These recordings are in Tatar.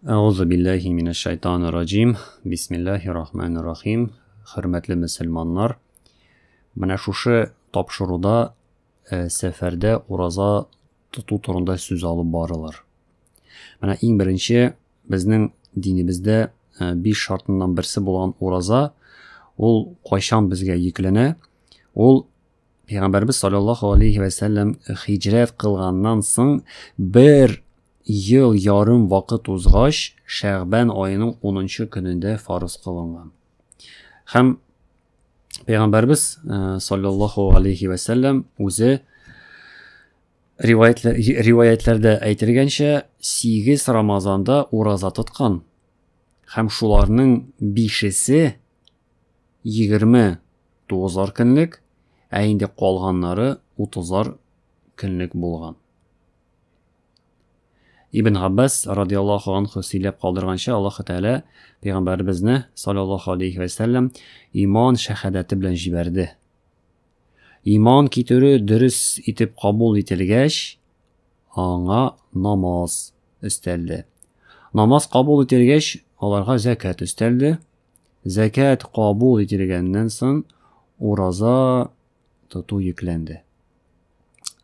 Әгъузу биллахи минәш шайтаны раҗим. Бисмиллахи рахмани рахим. Хөрмәтле мөселманнар, менә шушы тапшыруда э, сәфәрдә ураза тоту турында сүз алып барылар. Менә иң беренче безнең динебездә э, биш шартыннан берсе булган ураза, ул кайчан безгә йөкләнә? Ул Пәйгамбәрбез саллаллаһу алейхи вә сәлләм хиҗрәт кылганнан соң бер ел ярым вакыт узгач, Шәгъбан аеның 10-нчы көнендә фарыз кылынган. Һәм Пәйгамбәрбез э, саллаллаһу алейхи вә сәлләм үзе риваятләрдә әйтелгәнчә 8 Рамазанда ураза тоткан. Һәм шуларның бишесе егерме тугызар көнлек, ә инде калганнары утызар көнлек булган. Ибн Габбас радиаллаху анху сөйләп калдырганча, Аллаһ Тәгалә пәйгамбәребезне саллаллаху алейхи ва саллям иман шәһадәте белән җибәрде. Иман китерү дөрес итеп кабул ителгәч, аңа намаз өстәлде. Намаз кабул ителгәч, аларга закат өстәлде. Зәкят кабул ителгәннән соң, ураза тоту йөкләнде.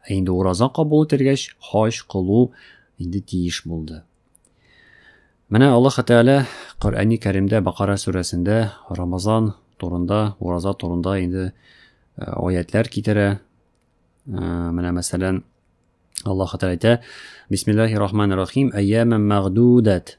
Ә инде ураза кабул ителгәч, хаҗ кылу инде тиеш булды. Менә Аллаһ Тәгалә Коръәни Кәримдә Бакара сүрәсендә Рамазан турында, ураза турында инде э, аятлар китерә. Э, менә мәсәлән, Аллаһ Тәгалә әйтә: "Бисмиллаһир рахманир рахим. Әйяман мәгъдудат."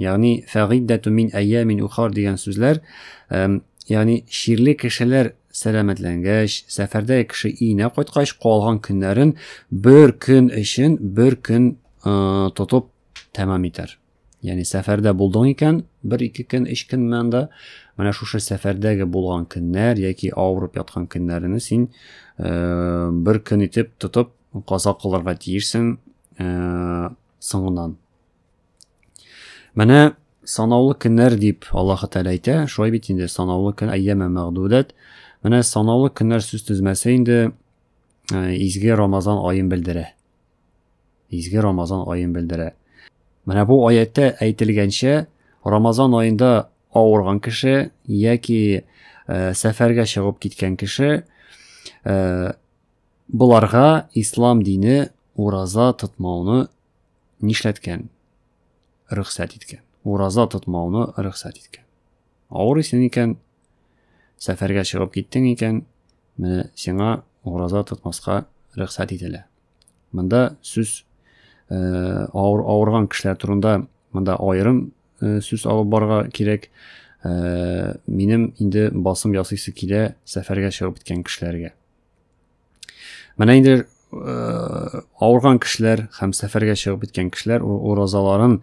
Ягъни фагиддату мин әйямин ухар дигән сүзләр, ягъни ширле кешеләр сәламәтләнгәч, сәфәрдә кеше өенә кайткач, калган көннәрен бер көн өчен бер көн тотып тәмам итәр. Ягъни сәфәрдә булдың икән, бер ике көн, өч көн монда, менә шушы сәфәрдәге булган көннәр яки авырып яткан көннәрен син бер көн итеп тотып каза кылырга тиешсең соңыннан. Менә санаулы көннәр дип Аллаһ Тәгалә әйтә. Шулай бит инде санаулы көн әйяме мәгъдүдәт. Менә санаулы көннәр сүз тезмәсе инде э, изге Рамазан аен белдерә. Изге Рамазан аен белдерә. Менә бу аятта әйтелгәнчә, Рамазан аенда авырган кеше яки э, сәфәргә чыгып киткән кеше э, боларга ислам дине ураза тотмауны нишләткән? Рөхсәт иткән. Ураза тотмауны рөхсәт иткән. Авырыйсың икән, сәфәргә чыгып киттең икән, менә сиңа ураза тотмаска рөхсәт ителә. Монда сүз э, авыр, авырган кешеләр турында монда аерым э, сүз алып барга кирәк. Э, минем инде басым ясыйсы килә сәфәргә чыгып киткән кешеләргә. Менә инде э, авырган кешеләр һәм сәфәргә чыгып киткән кешеләр уразаларын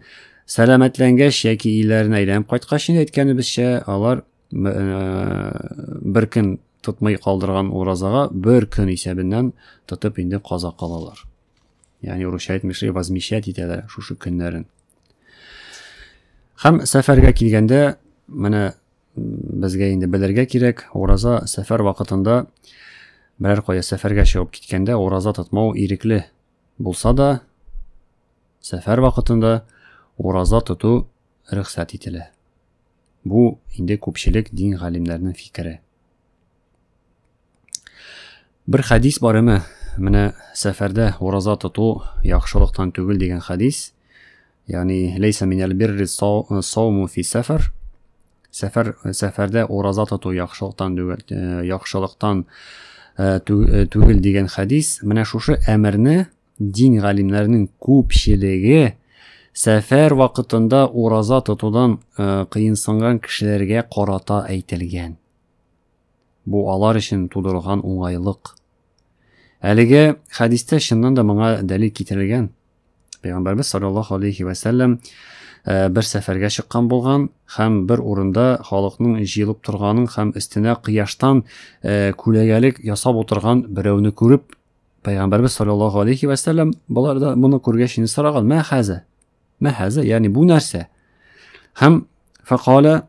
сәламәтләнгәч яки өйләренә әйләнеп кайткач инде әйткәнебезчә, алар э, бер көн тотмый калдырган уразага бер көн исәбеннән тотып инде каза калалар. Ягъни урысча әйтмешли возмещать итәләр шушы көннәрен. Һәм сәфәргә килгәндә менә безгә инде белергә кирәк, ураза сәфәр вакытында берәр кая сәфәргә чыгып киткәндә ураза тотмау ирекле булса да, сәфәр вакытында ураза тоту рөхсәт ителә. Бу инде күпчелек дин галимнәренең фикере. Бер хадис бар име? Менә сәфәрдә ураза тоту яхшылыктан түгел дигән хадис. Ягъни лейса минәл бирри сауму фи сәфәр. Сәфәр сәфәрдә ураза тоту яхшылыктан э, яхшылыктан э, э, түгел дигән хадис. Менә шушы әмерне дин галимнәренең күпчелеге сәфәр вакытында ураза тотудан кыенсынган кешеләргә карата әйтелгән. Бу алар өчен тудырылган уңайлык. Әлеге хәдистә чыннан да моңа дәлил китерелгән. Пәйгамбәрбез саллаллаһу алейхи ва сәлләм э, бер сәфәргә чыккан булган һәм бер урында халыкның җыелып торганын һәм өстенә кояштан э, күләгәлек ясап утырган берәүне күреп, Пәйгамбәрбез саллаллаһу алейхи ва сәлләм болар да моны күргәч инде сораган: "Мә хәзә?" Мә хәзә, ягъни бу нәрсә? Һәм факала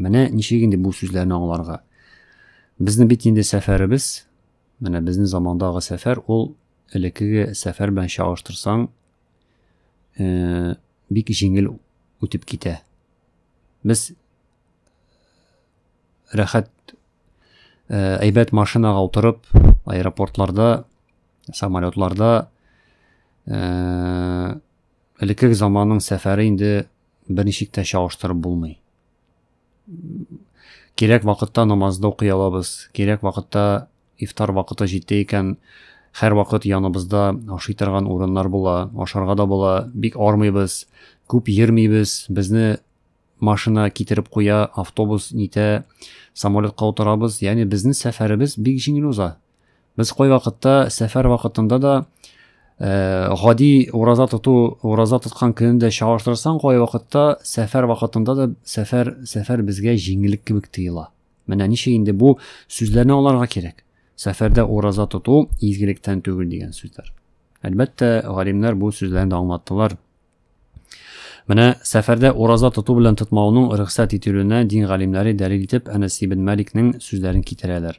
Менә ничек инде бу сүзләрне аңларга. Безнең бит инде сәфәребез, менә безнең замандагы сәфәр, ул элеккеге сәфәр белән чагыштырсаң, э, бик җиңел үтеп китә. Без рәхәт э, әйбәт машинага утырып, аэропортларда, самолетларда э, элеккеге заманның сәфәре инде берничек тә чагыштырып булмый. Кирәк вакытта намазды укый алабыз, кирәк вакытта ифтар вакыты җитте икән, һәр вакыт яныбызда ашый торган урыннар була, ашарга да була, бик армыйбыз, күп йөрмибез, безне машина китереп куя, автобус нитә, самолетка утырабыз, ягъни безнең сәфәребез бик җиңел уза. Без кайвакытта сәфәр вакытында да э, гади ураза тоту, ураза тоткан көнен дә чагыштырсаң, кайвакытта сәфәр вакытында да сәфәр, сәфәр безгә җиңеллек кебек тоела. Менә ничә инде бу сүзләрне аларга кирәк. Сәфәрдә ураза тоту изгелектән түгел дигән сүзләр. Әлбәттә, галимнәр бу сүзләрне дә аңлаттылар. Менә сәфәрдә ураза тоту белән тотмауның рөхсәт ителүенә дин галимнәре дәлил итеп Әнәс ибн Маликның сүзләрен китерәләр.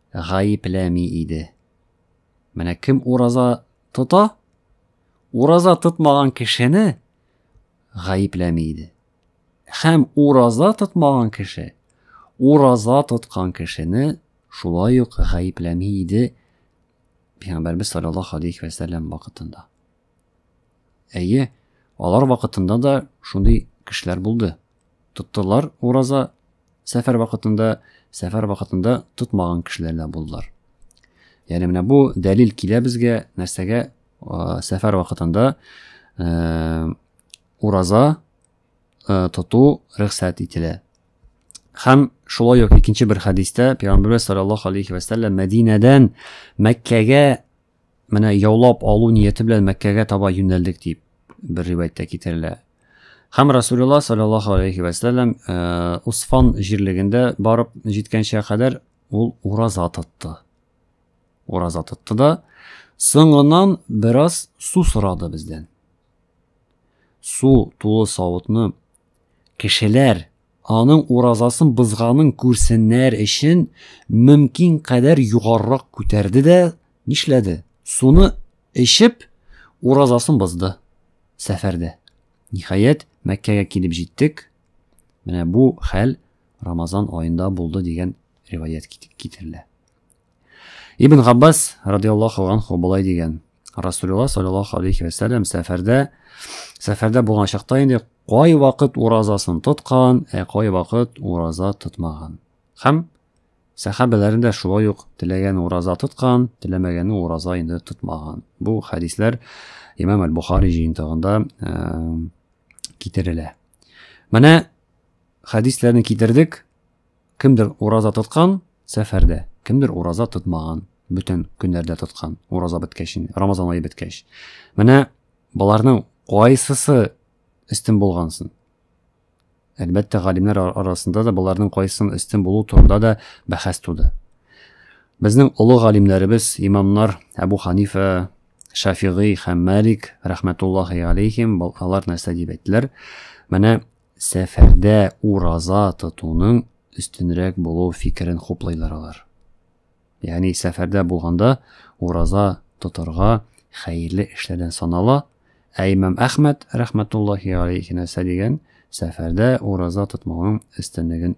гаепләми иде. Менә кем ураза тота, ураза тотмаган кешене гаепләми иде. Һәм ураза тотмаган кеше, ураза тоткан кешене шулай ук гаепләми иде Пәйгамбәрбез саллаллаһу алейхи ва саллям вакытында. Әйе, алар вакытында да шундый кешеләр булды. Тоттылар ураза сәфәр вакытында, сәфәр вакытында тотмаган кешеләр дә булдылар. Ягъни менә бу дәлил килә безгә нәрсәгә сәфәр вакытында э, ураза э, тоту рөхсәт ителә. Хәм шулай ук икенче бер хәдистә пәйгамбәрбез саллаллаһу алейхи ва сәлләм Мәдинәдән Мәккәгә Менә яулап алу нияте белән Мәккәгә таба юнәлдек дип бер ривәйәттә китерелә. Һәм Расулулла саллаллаһу алейхи ва саллям э, Усфан җирлегендә барып җиткәнчә кадәр ул ураза тотты. Ураза тотты да соңыннан бераз су сорады бездән. Су тулы савытны Кешеләр, аның уразасын бозганын күрсеннәр өчен, мөмкин кадәр югарырак күтәрде дә, нишләде? Суны эчеп, уразасын бозды. Сәфәрдә. Ниһаять, Мәккәгә килеп җиттек. Менә бу хәл Рамазан аенда булды дигән риваять китерелә. Ибн Габбас радиаллаху анху болай дигән. Расулулла саллаллаху алейхи вәсәлләм сәфәрдә сәфәрдә булган чакта инде кай вакыт уразасын тоткан, ә кай вакыт ураза тотмаган. Һәм сәхабәләрен дә шулай ук теләгән ураза тоткан, теләмәгән ураза инде тотмаган. Бу хәдисләр Имам Аль-Бухари җыентыгында китерелә. Менә хәдисләрне китердек. Кемдер ураза тоткан, сәфәрдә, кемдер ураза тотмаган, бөтен көннәрдә тоткан, ураза беткәч, Рамазан ае беткәч. Менә боларның кайсысы өстен булгансын? Әлбәттә, галимнәр арасында да боларның кайсысын өстен булу турында да бәхәс туды. Безнең олы галимнәребез, имамнар Әбу Ханифа, Шафигый һәм Малик, рәхмәтуллахи алейхим, алар нәрсә дип әйттеләр? Менә Сәфәрдә ураза тотуның өстенрәк булу фикерен хуплыйлар алар. Ягъни сәфәрдә булганда ураза тотарга хәерле эшләрдән санала, ә имам Әхмәд рәхмәтуллаһи алейхи нәрсә дигән, сәфәрдә ураза тотмауның өстенлеген